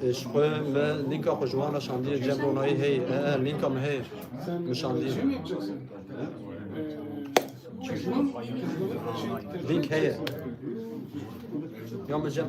Ji xwe me lînka xwe ji wan re şandiye cem ronayî hey e e lînka me hey min şandiye lînk heye ya me cem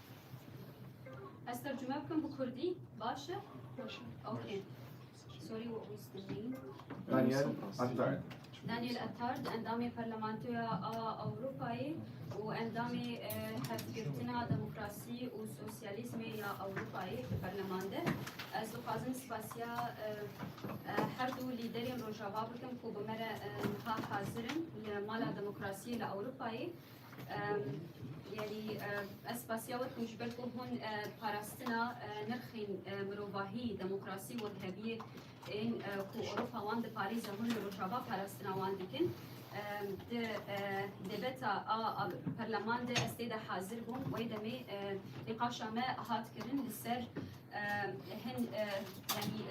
Ez tercüme bikim bi Kurdî baş e? Baş e. Okay. Sorry what was the name? Daniel Attard. Daniel Attard endamê Parlamentoya a Avrupayê û endamê e, hevgirtina demokrasî û sosyalîzmê ya Avrupayê di Parleman de. Ez dixwazim spasiya e, e, her du lîderên Rojava bikim ku bi me re e, ha hazir in li Mala Demokrasiyê li Avrupayê. یعنی ez spasiya we ku ji ber ku hûn parastina nirxên mirovahî, demokrasî û heviyê ên ku Ewropa wan diparêze hûn li Rojava parastina wan dikin. Di debeta a perleman de ez tê de hazir bûm wê demê nîqaşa me hat kirin li ser hin yanî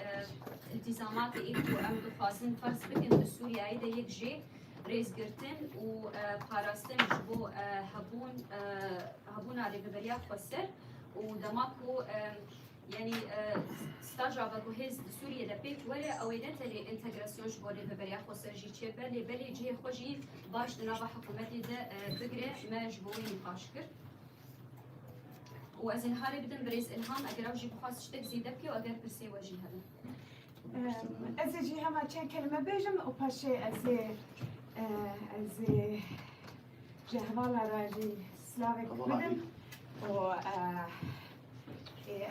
îltîzamatê ê ku em dixwazin ferz bikin li Sûriyeyê de yek jê rêzgirtin û parastin ji bo hebûn hebûna rêveberiya xweser û dema ku yanî staja veguhêz di Sûriyê de pêk were ew ê ne tenê întegrasyon ji bo rêveberiya xweser jî çê be lê belê cihê xwe jî baş di nava hikûmetê de bigire me ji bo wê nîqaş kir. û ez ê niha rê bidim birêz Ilham eger ew jî bixwaz ştek zêde bike û eger pirsê we jî hebe. Ez ê jî hema çend kelime bêjim û paşê ez ê ez ê ji hevala re jî slavek bidim û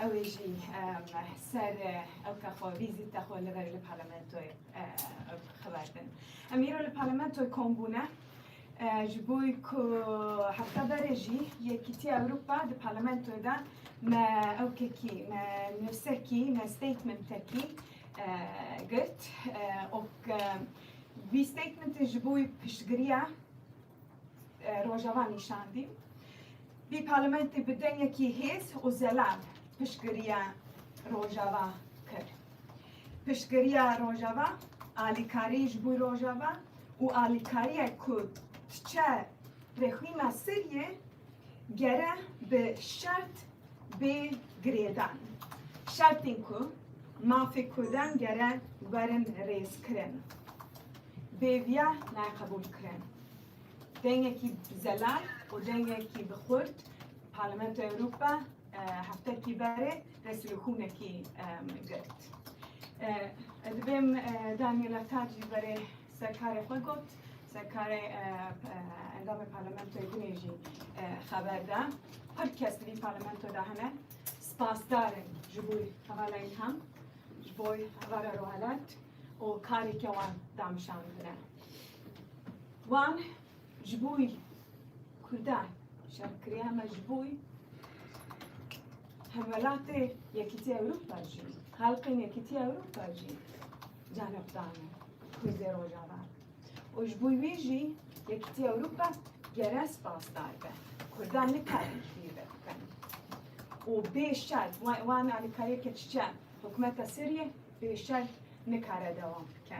ew ê jî ser ew ke xwe vîzîta xwe li ver li parlamentoyê xeber bin. Em îro li parlamentoyê kom bûne. Ji bo ku hevta berê jî Yekîtiya Ewropa di parlamentoyê de me ewkekî, me nivsekî, me statementekî girt û vî statementê ji bo wî piştgiriya Rojava nîşandî. Vî parlamentê bi dengekî hêz û zelal piştgiriya Rojava kir. Piştgiriya Rojava, alîkarî ji bo Rojava û alîkariyek ku diçe rêxwîna Sûriyê gere bi şert bê girêdan. Şertên ku mafê Kurdan gere werin rêzkirin bêviya nayê qebûlkirin. Dengekî bi zelal û dengekî bi xurt Parlamentoya Ewropa heftekî berê dest li hûnekî girt. Divêm Daniela Tac ji berê serkarê xwe got, serkarê endamê parlamentoyê binê jî xeber da. Her kes di vî parlamento de hene spasdar in ji bo hevala îlham, ji bo hevala rohelat û karê ke wan danişandine. Wan Ji bo wî Kurdan şer kiriye me ji bo wî hemwelatê Yekîtiya Ewropa jî xelkên Yekîtiya Ewropa jî canê xwe dane Kurdê Rojava û ji bo wî jî Yekîtiya Ewropa gere spasdar be. Kurdan nikarin fîr ve bikin. Û bê şer wan wan alîkariyê ke çiçe hikûmeta Sûriyê bê şer nikare dewam bike.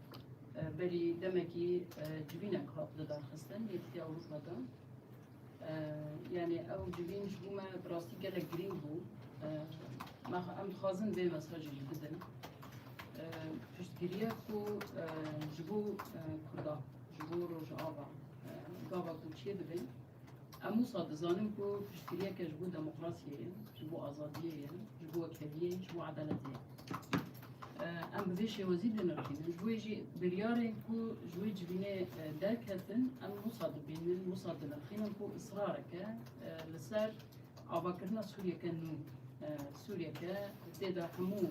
Berî demekî civînek hat lidarxistin Yekîtiya Ewropa de. Yanî ew civîn ji bo me bi rastî gelek girîng bû. Em dixwazin vê mesajê jî bidin. Piştgiriya ku ji bo Kurdan, ji bo Rojava gava ku çêdibin, Em wisa dizanin ku piştgiriyeke ji bo demokrasiyê ye, ji bo azadiyê ye, ji bo wekheviyê ye, ji bo edaletê ye. Em bi vê şêwezî dinirxînin. Ji wê jî biryarên ku ji wê civînê derketin em wisa dibînin, wisa dinirxînin ku israreke li ser avakirina Sûriyeke nû, Sûriyeke tê de hemû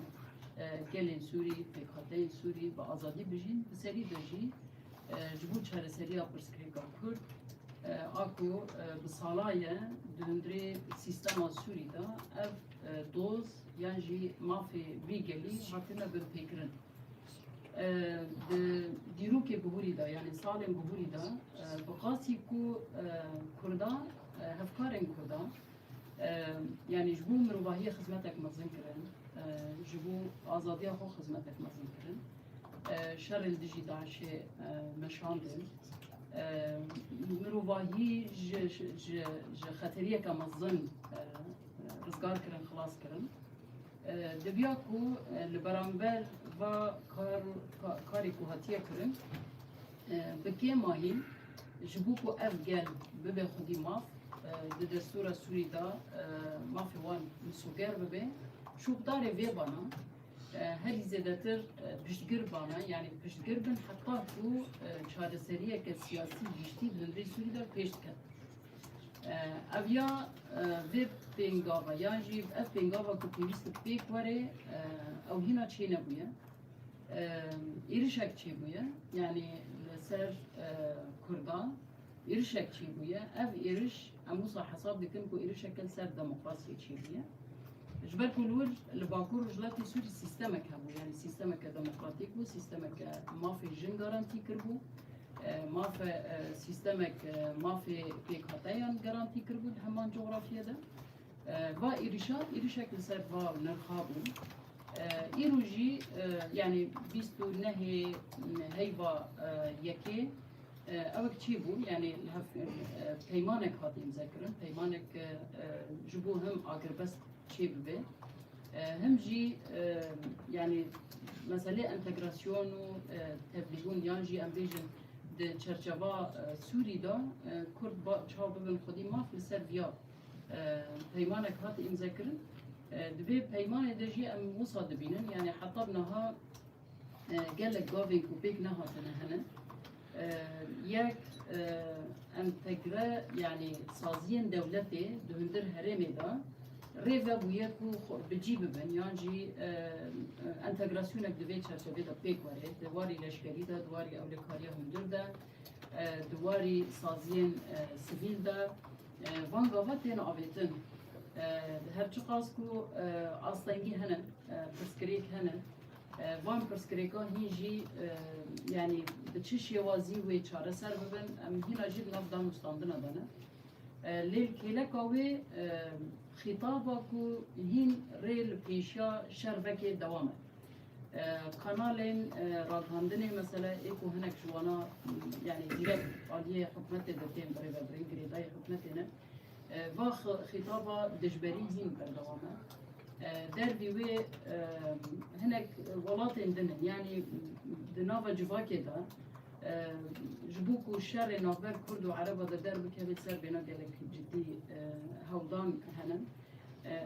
gelên Sûrî, pêkhateyên Sûrî bi azadî bijîn, bi serî de jî Ji bo çareseriya pirsgirêka Kurd, Ako bi sala ye di hundirê sîstema Sûrî de ev doz yan jî mafê vî gelî hatine binpêkirin. Di dîrokê bihûrî de yanê salên bihûrî de bi qasî ku Kurdan hevkarên Kurdan Yanî ji bo mirovahiyê xizmetek mezin kirin, ji bo azadiya xwe xizmetek mezin kirin. Şerê li dijî DAIŞ'ê meşandin. Mirovahî ji xeteriyeke mezin rizgar kirin, xilas kirin. Diviya ku li beramber va karê ku hatiye kirin, Bi kêmahî ji bo ku ev gel bibe xwedî maf, di destûra Sûrî de mafê wan misoger bibe. Şopdarê vê bana herî zêdetir piştgir bana, yanî piştgir bin heta ku çareseriyeke siyasî giştî di rê Sûrî de pêş diket. Ev ya vê pêngava yan jî ev pêngava ku pêwîst pêk were ew hîna çênebûye. Êrişek çêbûye yanî li ser Kurdan êrişek çêbûye. Ev êriş em wisa hesab dikin ku êrişeke li ser demokrasiyê çêbûye. Ji ber ku li wir li Bakur Rojhilatê Sûrî sîstemek hebû yanî sîstemeke demokratîk bû, sîstemeke mafê jin garantî kiribû, mafe sîstemek mafê pêkhateyan garantî kiribû di heman cografiyê de. Va êrîşa êrîşek li ser va nirxa bû. Îro jî yanî bîst û nehê heyva yekê ewek çî bû yanî peymanek hate imzekirin peymanek ji bo him agirbest çê bibe him jî yanî meselê entegrasyon û tevlîbûn yan jî em bêjin di çerçeva Sûrî de Kurd çaw bibin xwedî maf li ser vîya Peymanek hat îmzekirin. Di vê peymanê de jî em wisa dibînin yanî heta niha gelek gavên ku pêk nehatine hene. Yek entegre yanî saziyên dewletê di hundir herêmê de rê vebûye ku bi cî bibin yan jî entegrasyonek di vê çerçevê de pêk were. Di warî leşkerî de, di warî ewlekariya hundir de, di warî saziyên sivîl de Van gava tên avêtin. Di her çiqas ku astengî hene, pirsgirêk hene, van pirsgirêkan hîn jî yanî bi çi şêwazî wê çareser bibin em hîna jî di nav danûstandina de ne. Lê li kêleka wê xîtaba ku hîn rê li pêşiya şer vekê dewam e. Kanalên ragihandinê mesela ê ku hinek ji wana yanî direkt aliyê hikûmetê ve tên birêvebirin, girêdayî hikûmetê ne, va xîtaba dijberî hîn berdewam e. Derdî wê hinek welatên din in, yanî di nava civakê de ji bo ku şerê navber kurd û ereba de derbikeve ser bêhna gelek cidî hewldan hene.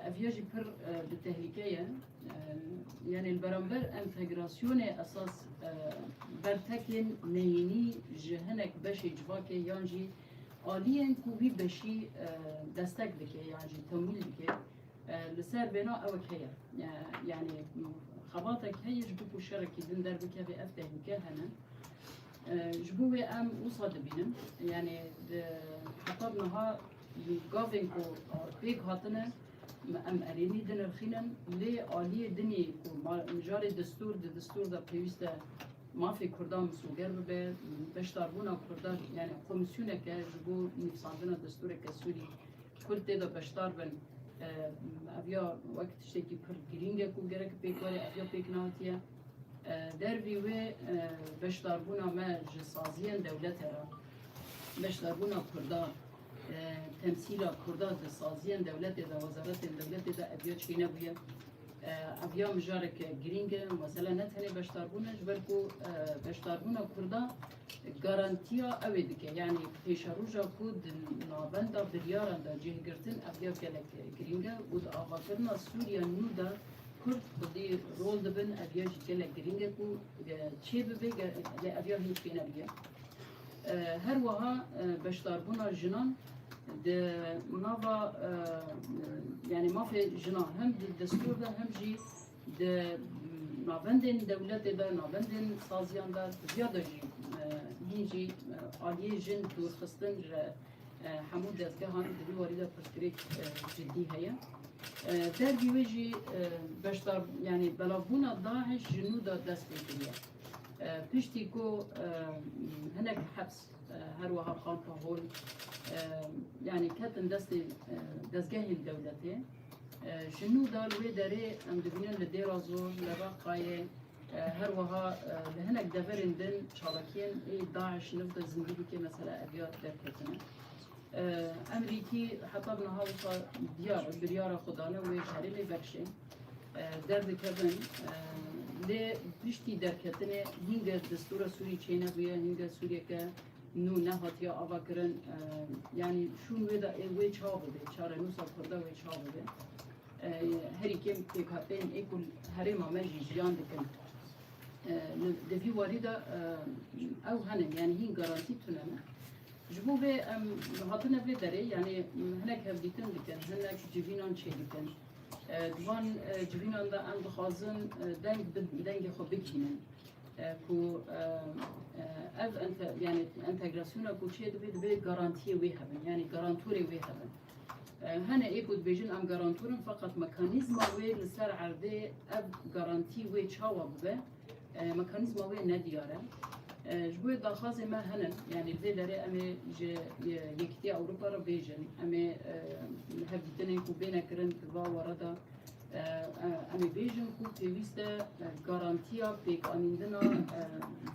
Ev ya jî pir di tehlîke ye. Yanê li beramber entegrasyonê esas bertekên neyînî ji hinek beşê civakê yan jî aliyên ku wî beşî destek dike yan jî temwîl dike li ser bêna ewek heye. Yanê xebatek heye ji bo ku şerekî din derbikeve ev tehlike hene. Ji bo wê em wisa dibînin yanê di heta niha gavên ku pêk hatine Me em erênî dinirxînin lê aliyê din ê ku ma mijarê destûr di destûr de pêwîst e mafê Kurdan misoger bibe, beşdarbûna Kurdan yani komîsyoneke ji bo nivîsandina destûreke Sûrî Kurd tê de beşdar bin ev ya wek tiştekî pir girîng e ku gerek pêk were ev ya pêk nehatiye. Dervî wê beşdarbûna me ji saziyên dewlete re beşdarbûna Kurdan Temsîla Kurdan di saziyên dewletê de, wezaretên dewletê de ev ya çê nebûye. Ev ya mijareke girîng e. Mesela ne tenê beşdarbûn e, ji ber ku beşdarbûna Kurdan garantiya ew ê dike. Yanî pêşeroja ku di navenda biryaran de cih girtin ev ya gelek girîng e û di avakirina Sûriya nû de Kurd xwedî rol dibin ev ya jî gelek girîng e ku çê bibe lê ev ya hîn çê nebûye. Her wiha beşdarbûna jinan di nava yanî mafê jinan hem di destûr de hem jî di navendên dewletê de navendên saziyan de tiviya de jî hîn jî aliyê jin dûrxistin re hemû dezgehan di vî warî de pirsgirêk ciddî heye. Dervî wê jî beşdar yanî belavbûna DAIŞ ji nû de dest pê kiriye. Piştî ku hinek heps her wiha Xanka Hol yanî ketin destê dezgehên dewletê ji nû da li wê derê em dibînin li Dêrazor, li Reqayê her wiha li hinek deverên din çalakiyên ê DAIŞ niv de zindî bike mesela ev ya derketine. Emrîkî heta bi niha wisa diyar e biryara xwe dane wê herêmê bexşê. derdikevin lê piştî derketinê hîngê destûra Sûrî çênebûye hîngê Sûriyeke nû nehatiye avakirin yanî şûn wê de ê wê çawa bibe çarenûsa kurda wê çawa bibe herî kêm pêkhateyên ê ku herêma me jî jiyan dikin di vî warî de ew henin yanî hîn garantî tune ne ji bo vê em hatine vê derê yanî hinek hevdîtin dikin hinek civînan çêdikin Di van civînan de em dixwazin deng bi dengê xwe bigihînin ku ev yani entegrasyona ku çê dibê dibê garantiyê wê hebin yani garantorê wê hebin. Hene ê ku dibêjin em garantorin feqet mekanîzma wê li ser erdê ev garantî wê çawa bibe Mekanîzma wê ne diyar e. Ji bo wê daxwazên me hene. Yanî li vê derê em ê ji Yekîtiya Ewropa re bêjin. Em ê li hevdîtinên ku bêne kirin di va were de em ê bêjin ku pêwîst e garantiya pêkanîndina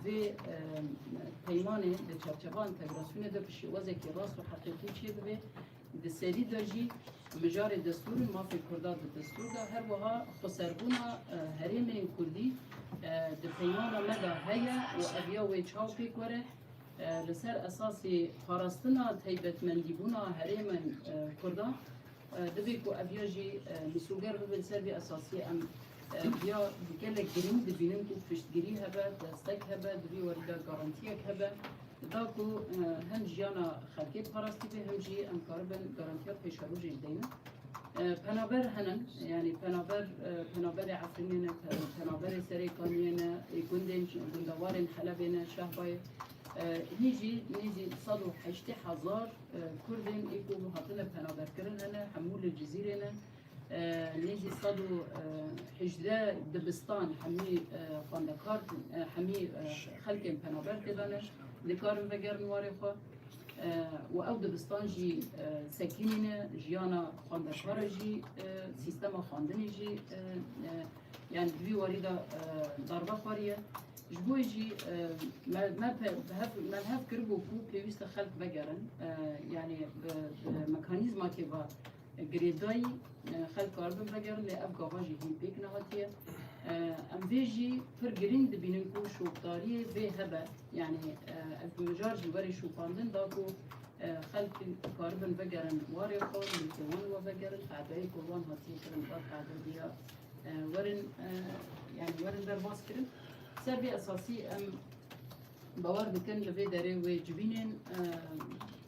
vê peymanê di çarçeva entegrasyonê de bi şêwazekî rast û heqîqî çêbibe Di serî de jî mijarê destûr û mafên Kurdan di destûr de her wiha xweserbûna herêmên Kurdî di peymana me de heye û ev ya wê çaw pêk were li ser esasê parastina taybetmendîbûna herêmên Kurdan divê ku ev ya jî misûger bibe li ser vê esasiyê em ya gelek girîng dibînin ku piştgirî hebe, destek hebe, di vî werî de garantiyek hebe. da ku hem jiyana xelkê parastî bê hem jî em karibin garantiya pêşerojê ji deynin. Penaber henin, yanî penaber penaberê Efrînê ne, penaberê serê Kaniyê ne, ê gundên gundewarên Helebê ne, Şehbayê hî jî nêzî sed û heştê hezar Kurdên ê ku hatine penaberkirin hene, hemû li Cizîrê ne, Nêzî sed û hejdeh dibistan hemî xwendekar hemî xelkên penaber tê de ne dikarin vegerin warê xwe û ew dibistan jî sekînî ne jiyana xwendekar e jî sîstema xwendinê jî yani di vî warî de darbe xweriye ji bo jî me me me hev kiribû ku pêwîste xelk vegerin yani mekanîzmakê ve Girêdayî xelk karibin vegerin lê ev gava jî hîn pêk nehatiye. Em vê jî pir girîng dibînin ku şopdariyê vê hebe. Yanî ez bi mijar jî werê şopandin da ku xelk karibin vegerin warê xwe, milkê wan we vegerin, qedeyê ku wan hatiye kirin da qede bîya werin yanî werin derbas kirin. Ser vê esasî em Bawer dikin li vê derê wê civînên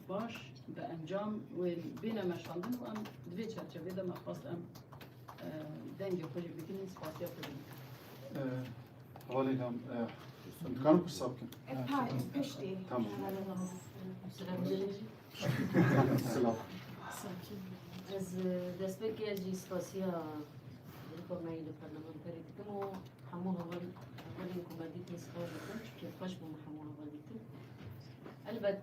baş bi encam wê bêne meşandin û em di vê çerçevê de me xwest em dengê xwe jî bigihînin spasiya te jî bikin. Halê nam dikarim hesab bikin. Tamam. Ez destpêkê ez jî spasiya Rîkomeyî li parlamenterî dikim û hemû hevalên ku me dîtin spas dikim çünkü xweş bûm hemû heval dîtin. Elbet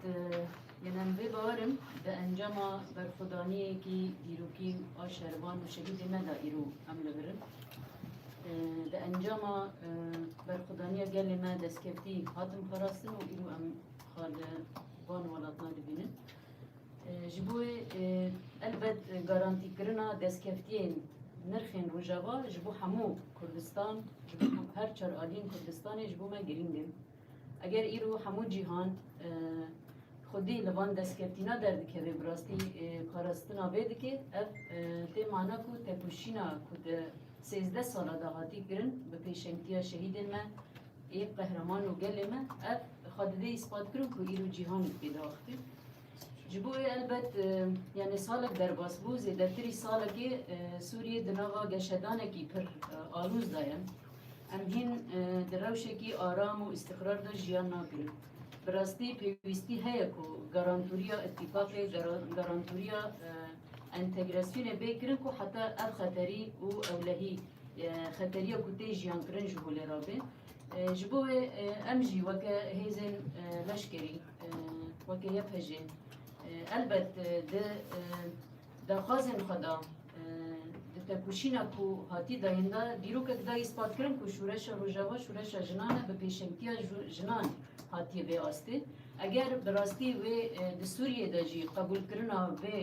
yên em vê bawerim di encama berxwedaniyekî dîrokîn a şervan û şehîdê me de îro em li vir in. Di encama berxwedaniya gelê me destkeftî hatin parastin û îro em xwe li van welatina dibînin. Ji bo wê elbet garantîkirina destkeftiyên nirxên Rojava ji bo hemû Kurdistan, ji bo her çar aliyên Kurdistanê ji bo me girîng in. Eger îro hemû cîhan xwedî li van destkeftîna derdikeve bi rastî parastina vê dike, ev tê mana ku tepûşîna ku di sêzdeh sala dahatî kirin bi pêşengtiya şehîdên me Ê qehreman û gelê me ev xwe divê îspat kirin ku îro cîhan pê diaxivin. Ji bo wê elbet yanê salek derbas bû, zêdetirî salekê Sûriyê di nava geşedanekî pir alûz de ye. Em hîn di rewşekî aram û îstiqrar de jiyan nakirin. Bi rastî pêwîstî heye ku garantûriya îtîfaqê, garantûriya entegrasyonê bê kirin ku heta ev xeterî û ewlehî xeteriya ku tê jiyankirin ji holê re bê. Ji bo wê em jî weke hêzên leşkerî, weke YPJ elbet di daxwazên xwe de, di têkoşîna ku hatî dayîn de dîrokek da îspatkirin ku Şûreşa Rojava şûreşa jinan e, bi pêşengtiya jinan hatiye vê astê. Eger bi rastî wê di Sûriyê de jî qebûlkirina vê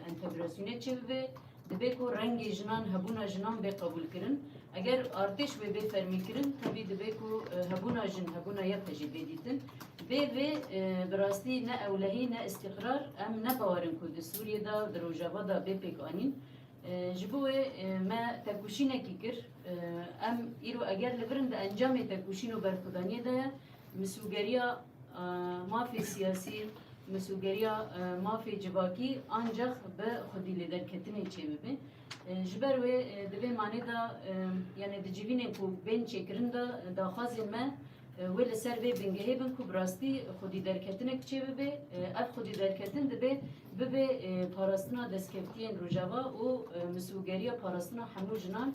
entegrasyonê çêbibe, Dibe ku rengê jinan, hebûna jinan bê qebûlkirin. Eger artêş wê bê fermîkirin, tevî dibe ku hebûna jin, hebûna yek e jî bê dîtin. Bê vê bi rastî ne ewlehî ne îstîqrar em ne bawerin ku di Sûriyê de, di Rojava de bê pêkanîn. Ji bo wê me têkoşînekî kir. Em îro eger li vir in di encamê têkoşîn û berxwedaniyê de ye. Misûgeriya mafê siyasî, misûgeriya mafê civakî ancax bi xwedîlêderketinê çêbibe. Ji ber wê di vê manê de yanê di civînên ku bên çêkirin de daxwazên me wê li ser vê bingehê bin ku bi rastî xwedîderketinek çêbibe. Ev xwedîderketin dibe bibe parastina destkevtiyên Rojava û misûgeriya parastina hemû jinan.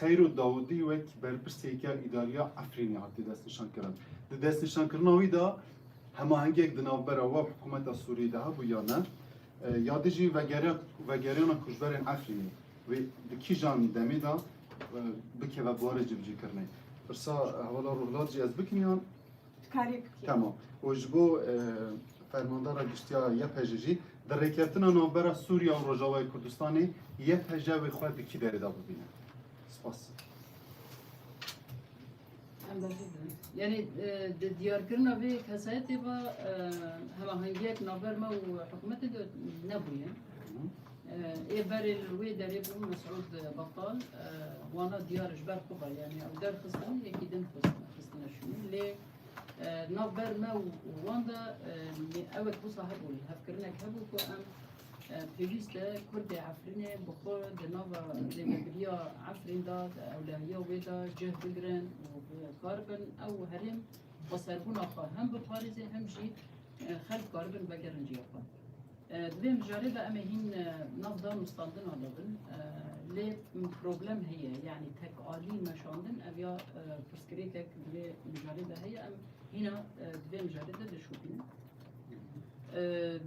Xeyro Dawudî wek berpirsêker îdariya Efrînê hatiye destnîşankirin. Di destnîşankirina wî de hemahengiyek di navbera we û hikûmeta Sûriyeyê de hebû ya ne? Ya din jî vegeriya vegeriyana koçberên Efrînê wê di kîjan demê de bikeve buwarê civcîkirinê? Pirsa hevala Ruhlat jî ez bikim yan? Dikarî bikî. Tamam. Û ji bo Fermandara Giştiya YPJ jî di rêkeftina navbera Sûriya û Rojavayê Kurdistanê YPJ wê xwe di kî derê de bibîne? Spas. Yani di diyarkirina vê kesayetê ve hemahengiyek navber me û hikûmetê de nebûye. Ê berê li wê derê bû Mesûd Betal wana diyar ji ber xwe ve yanî ew derxistin yekî din xistine şûnê lê navber me û wan de ewek wisa hebû hevkirinek hebû ku em pêwîst e Kurdê Efrînê bi xwe di nava zêdebiriya Efrîn de ewlehiya wê de cih bigirin û kar bin ew herêm xweserbûna xwe hem biparêzê hem jî xelk karibin vegerin cîya xwe. Di vê mijarê de em ê hîn nav dan û standina de bin. Lê problem heye yanî tek alî meşandin ev ya pirsgirêkek di vê mijarê de heye em hîna di vê mijarê de dişopînin.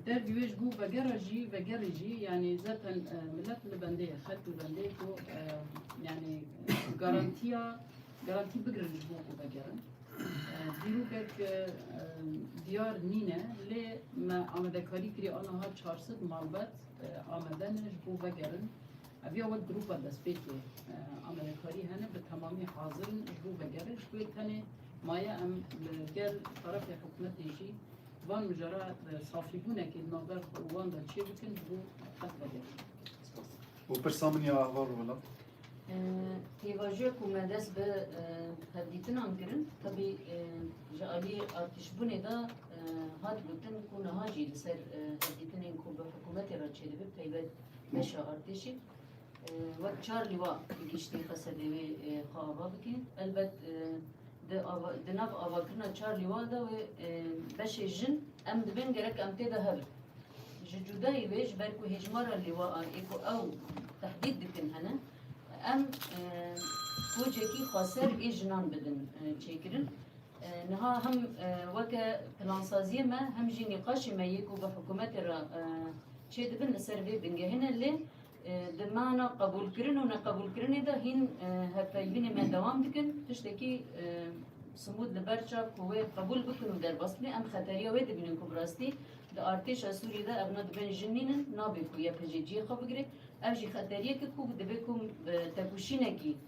Derdî wê ji bo vegera jî vegerê jî yanî zaten milet li bendê ye xelk li bendê ye ku yanî garantiya Garantî bigirin ji bo ku vegerin. Dîrokek diyar nîne lê me amadekarî kirî aniha çar sed malbat amade ne ji bo vegerin. Ev ya wek grûpa destpêkê amadekarî hene bi temamî hazir in ji bo vegerin. Ji bo tenê maye em li gel tarafê hikûmetê jî van mijara safîbûnekê di navber xwe û wan de çêbikin ji bo qet vegerin. Spas. Û pirsa min ya ava Rûhila. Pêvajoya ku me dest bi hevdîtinan kirin tevî ji aliyê artîşbûnê de hat gotin ku niha jî li ser hevdîtinên ku bi hikûmetê re çêdibin taybet beşa artêşê wek çar lîwa bi giştî qesedê wê xwe ava bike. Elbet Di nav avakirina çar lîwan de wê beşê jin em dibên gerek em tê de hebin. Ji cudayî wê ji ber ku hêjmara lîwaan ê ku ew tehdîd dikin hene, em kocekî xweser ê jinan bidin çêkirin. Niha hem weke plansaziyê me hem jî nîqaşê me yê ku bi hikûmetê re çêdibin li ser vê bingehê ne lê Di mana qebûlkirin û neqebûlkirinê de hîn hevpeyvînên me dewam dikin. Tiştekî simûd li ber çav ku wê qebûl bikin û derbas bike. Em xeteriya wê dibînin ku bi rastî di artêşa Sûriyê de evna di bin jin nînin, nabê ku YPJ cihê xwe bigire. Ev jî xeteriyek e ku divê ku bi tepûşînekî,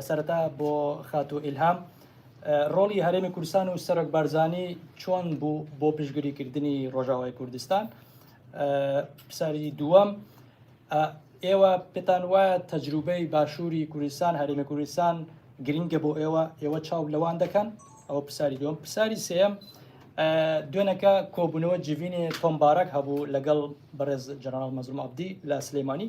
Sereta bo Xatû Îlham, Rolî Herêmê Kurdistan û Serok Barzanî çond bû bo piştgirîkirdinî Rojavayê Kurdistan? Pirsarî dûwem, Êwa pitan waya tecrûbeyî Başûrî Kurdistan, Herêmê Kurdistan girîng e bo êwa, êwa çaw li wan dikin? Ew pirsarî dûwem. Pirsarî sêyem, Duêneke kobûnewe civînê Tom Barak hebû legel Birêz Jeneral Mezlûm Abdî li Silêmanî.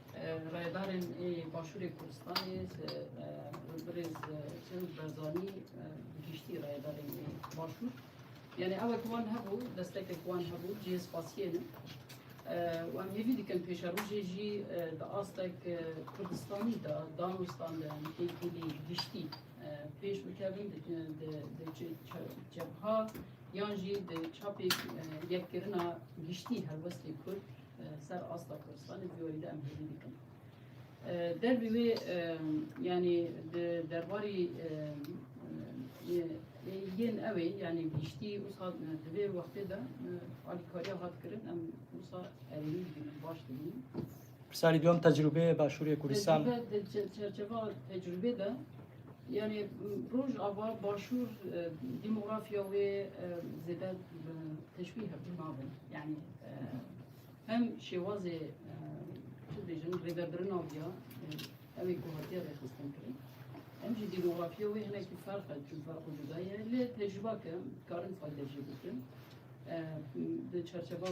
Rayedarên ê Başûrê Kurdistanê li birêz Çewik Berzanî bi giştî rayedarên ê Başûr yanî ew ku wan hebû destekek wan hebû cihê spasiyê ne û em hêvî dikin pêşerojê jî di astek Kurdistanî de danostan de em têkilî giştî pêş bikevin di cebha yan jî di çapê yekkirina giştî helwestên Kurd Ser asta Kurdistanê vîyoyî de em hêvî dikin. Derbî wê yanî di derbarî yên ew ê yanî giştî wisa di vê wextê de alîkariya hat kirin em wisa erênî dibîn baş dibîn. Pirsarî duyem tecrûbê Başûrê Kurdistan. Tecrûbe di çerçeva tecrûbê de yani Rojava Başûr demografya wê zêde teşbîh nabin. Yani Hem şêwazê tu bêjin rêvebirina viya ew ê ku hatiye rêxistin kirin. Hem jî dînografiya wê hinekî ferq e çün ferq û cuda ye lê tecrüba ke dikarin fayde jî bikin. Di çerçeva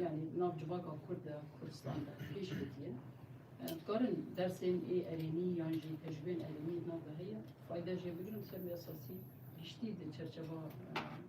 yani nav civaka Kurd de Kurdistan de pêş ketiye. Dikarin dersên ê erênî yan jî tecrübên erênî nav de heye fayde jê bikin û ser wê esasî giştî di çerçeva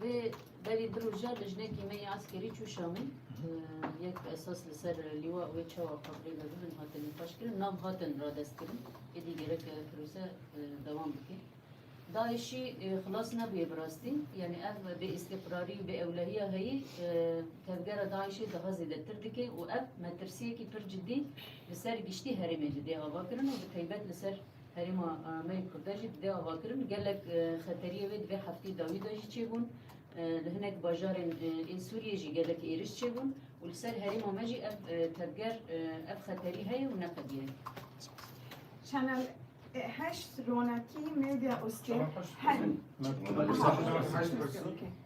Vê berî di roja li jinekî me yê askerî çû Şamî. Yek bi esas li ser lîwa wê çawa xabrê ve bibin hatin nîqaşkirin. Nav hatin radestkirin. Êdî gerek e pirose dewam bike. DAIŞ'î xilas nebûye bi rastî. Yanî ev bê îstîqrarî û bê ewlehiya heyî tevgera DAIŞ'ê daha zêdetir dike û ev metirsiyekî pir cidî li ser giştî herêmê li dê ava kirin û bi taybet li ser Herêma me yê Kurda jî dide avakirin. Gelek xeteriyê wê di vê hefteyê dawî de jî çêbûn. Li hinek bajarên ê Sûriyê jî gelek êriş çêbûn û li ser herêma me jî ev tevger ev xeterî heye û neqedîye. Channel heşt ronakî media û stêr hene.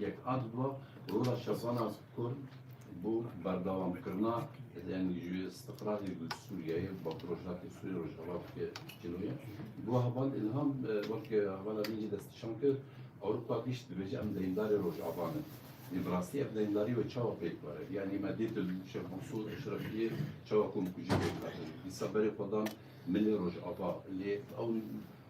Yek ad bi rola şevana kurd bo berdewamkirina yanî ji îstiqrarê bi Sûriyeyê bi rojhilatê Sûriyê rojava bike cînoya. Bo heval Îlham weke hevala min jî destnîşan kir Ewropa giş dibêje em deyndarê Rojava ne. Lê bi rastî ev deyndarî wê çawa pêk were? Yanî me dît li Şêx Mensûr Eşrefîyê çawa komkujî pêk hatin. Dîsa berê xwe dan milê Rojava. Lê ew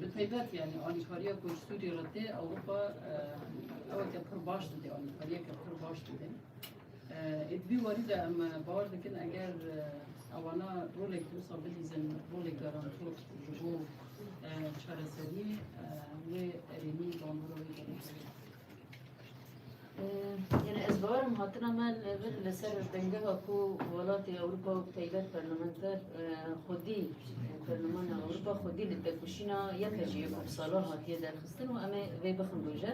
Bi taybet yani alîkariya ku ji Sûriyê re tê Ewropa eweke pir baş dide, alîkariyeke pir baş dide. Ê di vî warî de em bawer dikin eger ewana rolek wisa bidîzin rolek garantor ji bo çareserî wê erênî bandora wê Yine ez barim hatina me levir li ser dengeha ku welatê Ewropa û taybet parlamenter xwedî parlamenta Ewropa xwedî li tevkuşîna yeke ji yekû sala hatiye derxistin û em ê vê bixin roje.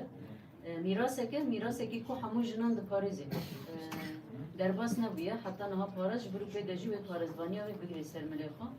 Mîraseke mîrasekî ku hemû jinan diparêzê. Derbas nebûye heta niha para ji bir û pê de jî wê parêzvaniya wê bigirê ser milê xwe.